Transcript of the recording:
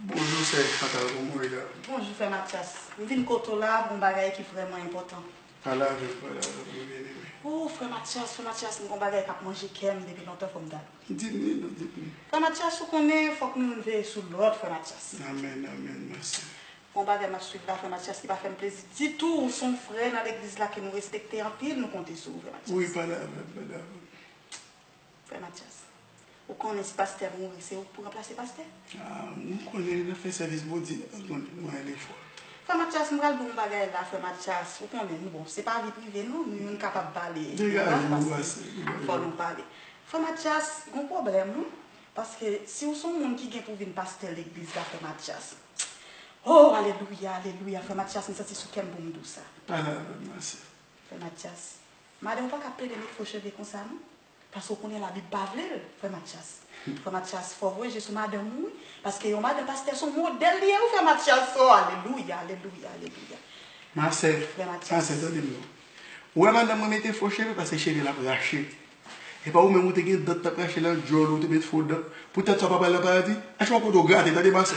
Bonjou sè Chantal bon kouré la. Bonjou fè Matyas m vin kote w la gon bagay ki vrèman enpòtan. Pale avèm pale avèm mwen byen renmen. Ooh frè Matyas frè Matyas m gon bagay kap manje kèm depi lontan fòm ta. Di m li non di m li. Frè Matyas ou konnen fòk nou youn veye sou lòt frè Matyas. Amen amen ma sè. Gon bagay map swiv la frè Matyas ki pa fèm plezi ditou ou son frè nan legliz la ke nou respekte anpil nou konte sou ou frè Matyas. Wi pale avèm pale avèm. Frè Matyas, ou konnen si pastè mouri se ou k pou ranplase pastè? Mwen konnen nan fè sèvis Bondye an mwen gen lefwa. Frè Matyas, m pral di w yon bagay la, frè Matyas, ou konnen m bon, se pa vi prive nou, nou youn kapab pale devan m paske fò nou pale. Frè Matyas, gon pwoblèm wi, paske si w son moun ki gen pou vin pastè legliz la frè Matyas, ho, alelouya, alelouya, frè Matyas m santi sou kè m pou m di w sa. Pale avè m ase. Frè Matyas, Madan ou paka pede met fo cheve konsa non paske ou konnen la bib pa vlel frè matyas frè matyas fò vwe je sou madanm ou wi paske yon madan pastè son modèl li ye wi frè matyas oo alelouya alelouya alelouya Ma sè frè ma sè matyas. tande m non ou wè madanm mwen mete fo cheve paske cheve l ap rache epa ou menm ou te gen dan ki tap rache nan djòl ou ou te met fo dan pou tèt sa ou pa pral nan paradi a chak kote ou grate tande ma sè.